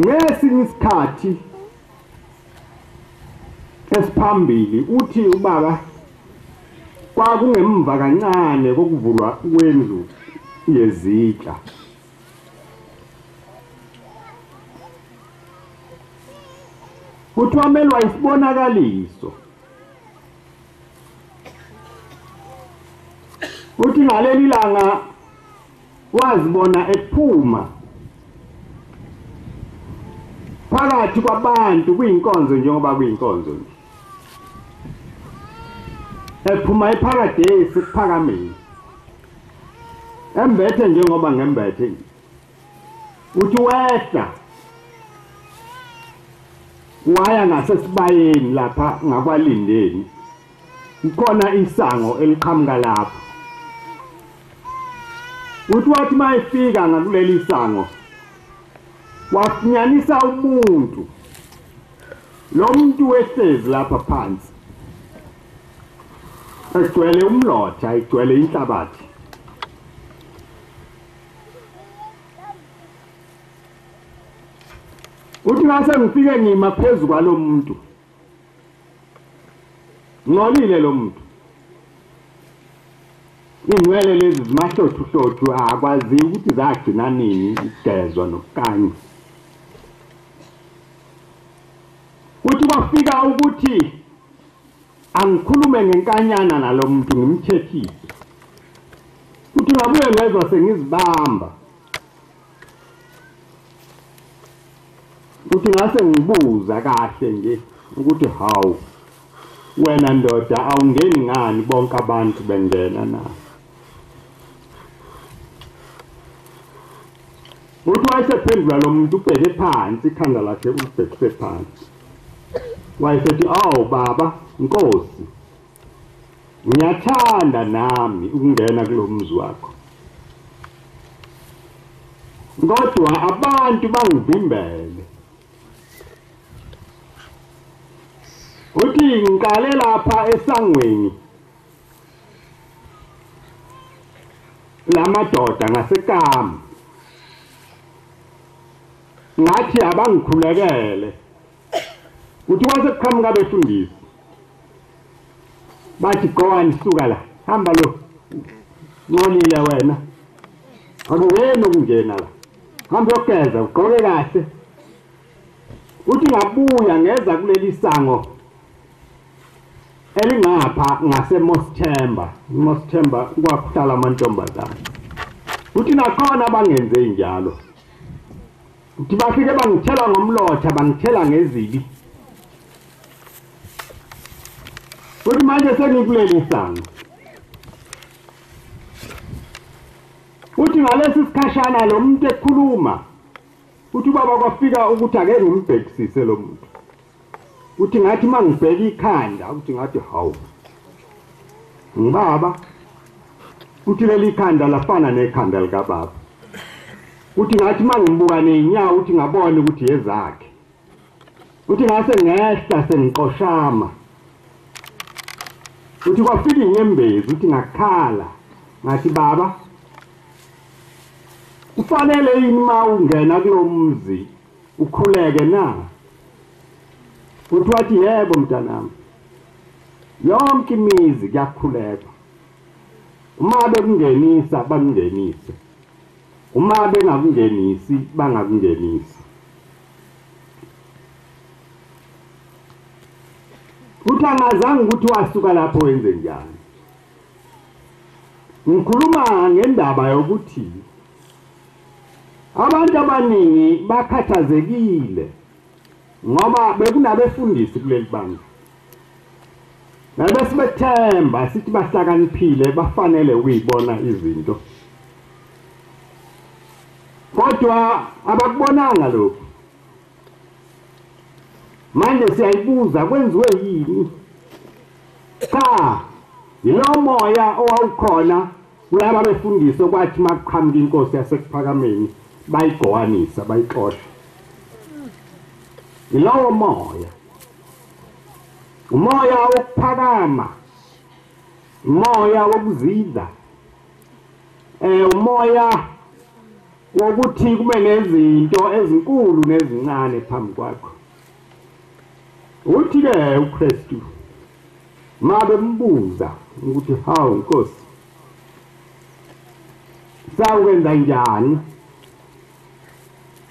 Ngesinye isikhathi esiphambili uthi ubaba kwakungemva kancane kokuvulwa kwendlu yezitsha kuthiwa melwa isibonakaliso uthi ngaleli langa wazibona ephuma phakathi kwabantu kuyinkonzo njengoba kuyinkonzo nje ephuma epharadesi kuphakamile embethe njengoba ngembethe nje uthi wehla waya ngasesibayeni lapha ngakwalindeni Kukhona isango eliqhamuka lapho. Uthi wathi uma efika ngakuleli sango wafunyanisa umuntu lo muntu wehlezi lapha phansi egcwele umlotha igcwele inhlabathi uthi ngase ngifike ngima phezu kwalomuntu Ngcolile lo muntu. Ingcwele lezi zimahlothu hlothu akwazi ukuthi zagcina nini igezwa nokukanywa. Kuthi kwafika ukuthi angikhulume ngenkanyana nalo muntu ngimthethise. Kuthi ngabuye ngezwa sengizibamba. uthi ngase ngibuza kahle nje ukuthi hawu wena ndoda awungeni ngani bonke abantu bengena na uthi wayesephendula lo muntu ubheke phansi ikhanda lakhe ulibhekise phansi wayesethi awu baba nkosi ngiyathanda nami ukungena kulomzi wakho kodwa abantu bangivimbele uthi ngiqale lapha esangweni lamadoda ngasekama ngathi abangikhulekele Kuthiwa sekuqhamuka abefundisi. Bathi gowani suka la. Hamba lo. Ncolile wena. Akuyena ukungena la. Hamba yogeza ugqoke kahle. Uthi ngabuya ngeza kuleli sango elingapha ngaseMosthemba. Mosthemba kwakuhlala amantombazana. Uthi nakhona bangenze njalo. Ngithi bafike bangithela ngomlotha bangithela ngezibi. Kuthi manje sengikuleli sango. Uthi ngalesi sikhashana lo muntu ekhuluma uthi ubaba kwafika ukuthi ake ngimbhekisise lo muntu. Uthi ngathi uma ngibheka ikhanda ukuthi ngathi hawu ngibaba uthi leli khanda lafana nekhanda likababa uthi ngathi uma ngibuka ney'nyawo uthi ngabona ukuthi yezakhe uthi ngase ngehla sengiqoshama uthi kwafika inyembezi uthi ngakhala ngathi baba kufanele yini uma ungena kulo mzi ukhuleke na futhi wathi yebo mntanami yonke imizi kuyakhulekwa uma bekungenisa bakungenise uma bengakungenisi bangakungenisi futhi angazange ukuthi wasuka lapho wenze njani ngikhuluma ngendaba yokuthi Abantu abaningi bakhathazekile ngoba bekunabefundisi kuleli bandla nabesibethemba sithi bahlakaniphile bafanele ukuyibona izinto kodwa abakubonanga lokhu manje siyayibuza kwenziwe yini cha yilomoya owawukhona Kulaba befundiswa kwathi makuqhamuka inkosi yasekuphakameni bayigqokanisa bayixosha. Yilowo moya. Umoya wokuphakama. Umoya wokuzidla. Eh umoya wokuthi kube nezinto ezinkulu nezincane phambi kwakho. Uthi ke uKristu Ma bembuza ukuthi hawu Nkosi sawukwenza njani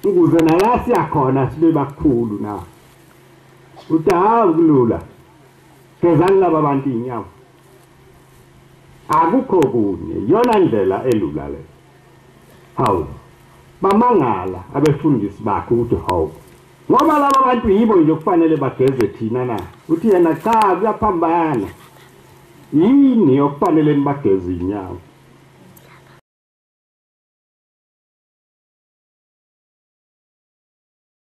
ukuze nala siyakhona sibe bakhulu na uthi hawu kulula gezani laba bantu inyawo akukho kunye yona ndlela elula le hawu bamangala abefundisi bakhe ukuthi hawu ngoba laba bantu yibo nje okufanele bageze thina na uthi yena cha kuyaphambana yini okufanele nibageze inyawo